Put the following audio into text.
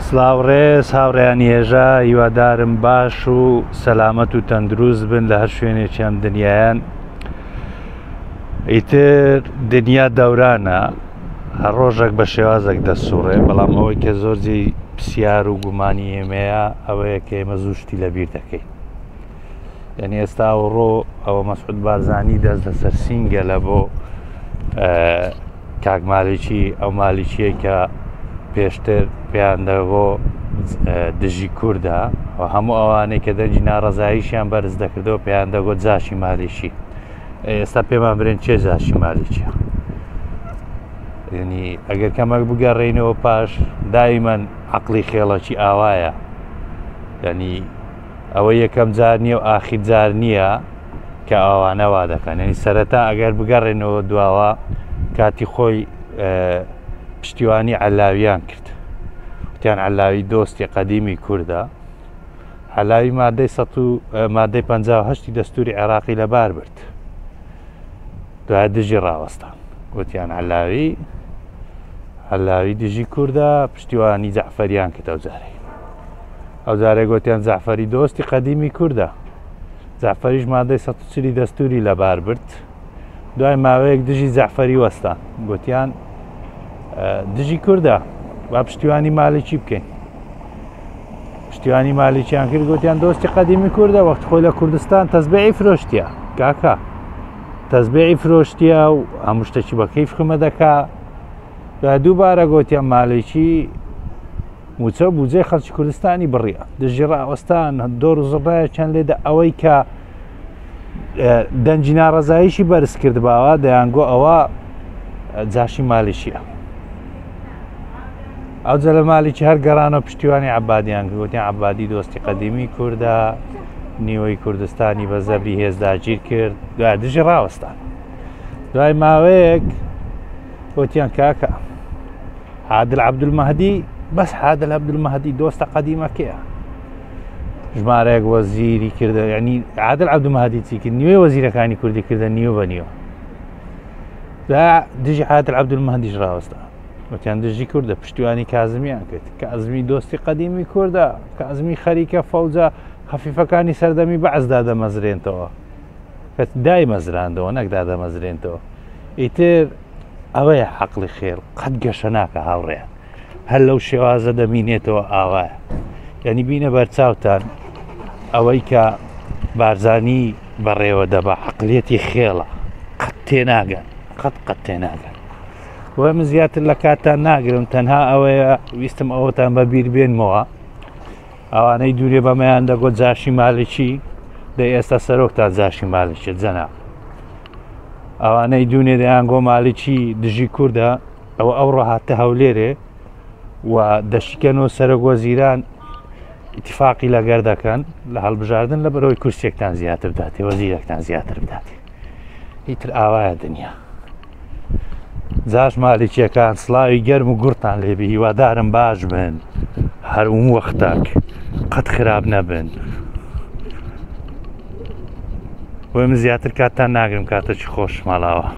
سلاو ڕێز هاوڕیان یێژا هیوادارم باش و سەلامەت و تەندروست بن لە هەر شوێنێکیان دنیایان ئیتر دنیا دەورانە هەر ڕۆژێک بە شێوازێک دەسوڕێ بەڵام ئەوەی کە زۆرجی پرسیار و گومانی ئێمەیە ئەوەیە کە ئێمە زوشتی لەبیر دەکەین یعنی ئێستا و ڕۆ ئەوە مەسعود بارزانانی دەست لەسەر سینگەلە بۆ کاک مالیکی ئەو مالیکیە کە پێشتر پێیان دەگۆ دژی کووردە و هەموو ئەوانەی کە دەنجی ناڕزاییشیان بەرز دەکردەوە پێیان دەگۆ جاشی مالیکی ئێستا پێمان برێن چێ جاشی مالیکیە ینی ئەگەر کەمەک بگەڕێینەوە پاش دایمەن عقلی خێڵەکی ئاوایە ینی ئەوە یەکەم جار نییە و ئاخیر جار نییە کە ئاوانە وا دەکەن ینی سەرەتا ئەگەر بگەڕێنەوە دواوە کاتی خۆی پشتیوانی علاویان کرد وتیان علاوی دۆستی قەدیمی کووردە علاوی مادەی مادەی 1950 دەستوری عێراقی لەبار برد دوای دژی ڕاوەستان وتیان علاوی علاوی دژی کووردە پشتیوانی جەعفەریان کە دەوجارێک ئەو جارێ گوتیان جەعفەری دۆستی قەدیمی کوردە جەعفەریش مادەی سە چلی دەستوری لەبار برد دوای ماوەیەک دژی جەعفەری وەستان گوتیان دژی کوردە با پشتیوانی مالکی بکەین پشتیوانی مالیکیان کرد گوتیان دۆستی قەدیمی کوردە وەخت خۆی لە کوردستان تەزبێعی فرۆشتە کاکە تەزبێعی فرۆشتە و هەموو شتەکی بەکەی فخمە دەکا دووبارە گوتیان مالیکی موچەو بوجەی خەلکی کوردستانی بڕیە دژی ڕاوەستان دۆر و زڕایەکیان لێدا ئەوەی کە دەنجی ناڕزاییشی بەرز کردباوە دەیانگۆ ئەوە جاشی مالیشیە ئەو جە لە مالیکی هەر گەرانە پشتیوانی عبادیان گوتی عبادی دۆستی قەدیمی کووردا نیوەی کوردستانی بە زەبری هێزداگیر کرد دوای دژی ڕاوەستان دوای ماوەیەک وتیان کاکە عادل عبدالمەهدی بەس عادل عبدالمەهدی دۆستە قەدیمەکەیە ژمارەیەک وەزیری کردە ینی عادل عبدالمەهدی چی کرد نیوێ وەزیرەکانی کوردی کردە نیو بە نیوە دا دژی عادل عبدالمەهدیش ڕاوەستا وتیان دژی کوردە پشتیوانی کازمیان کرد کە ئەزمی دۆستی قەدیمی کووردە کە ئەزمی خەریکە فەوجە خەفیفەکانی سەردەمی بەعزدا دەمەزرێنتەوە کە دایمەزراندەوە نەک دادەمەزرێنتەوە ئیتر ئەوەیە عقلی خێر قەت گەشە ناکە هاوڕێیان هەر لەو شێوازە دەمینێتەوە ئاوایە یعنی بینە بەرچاوتان ئەوەی کە بارزانی بەڕێوە دەبە عقلەتی خێڵە قەت تێناگەن قەت قەت تێناگەن و من زیاتر لە کاتان ناگرم تەنها ئەوەیە ویستم ئەوەتان بە بیر بێنمەوە ئەوانەی دوورێ بەمەیان دەگۆت جاشی مالکی دەی ئێستا سەرۆکتان جاشی مالکێ جەنا ئەوانەی دوونێ دەیان گۆ مالکی دژی کووردە ئەوە ئەو ڕەهاتە هەولێرێ و دەشیکەن و سەرۆک وەزیران اتفاقی لەگەر دەکەن لە هەڵبژاردن لە بەرەوەی کورسێکتان زیاتر بداتێ وەزیرەکتان زیاتر بداتێ هیتر ئاوایە دنیا جاش مالکیەکان سلاوی گەرم و گورتان لێبی هیوادارم باش بن هەروم وەختاک قەت خراپ نەبن وەی من زیاتر کاتتان ناگرم کاتە چی خۆش ماڵاوە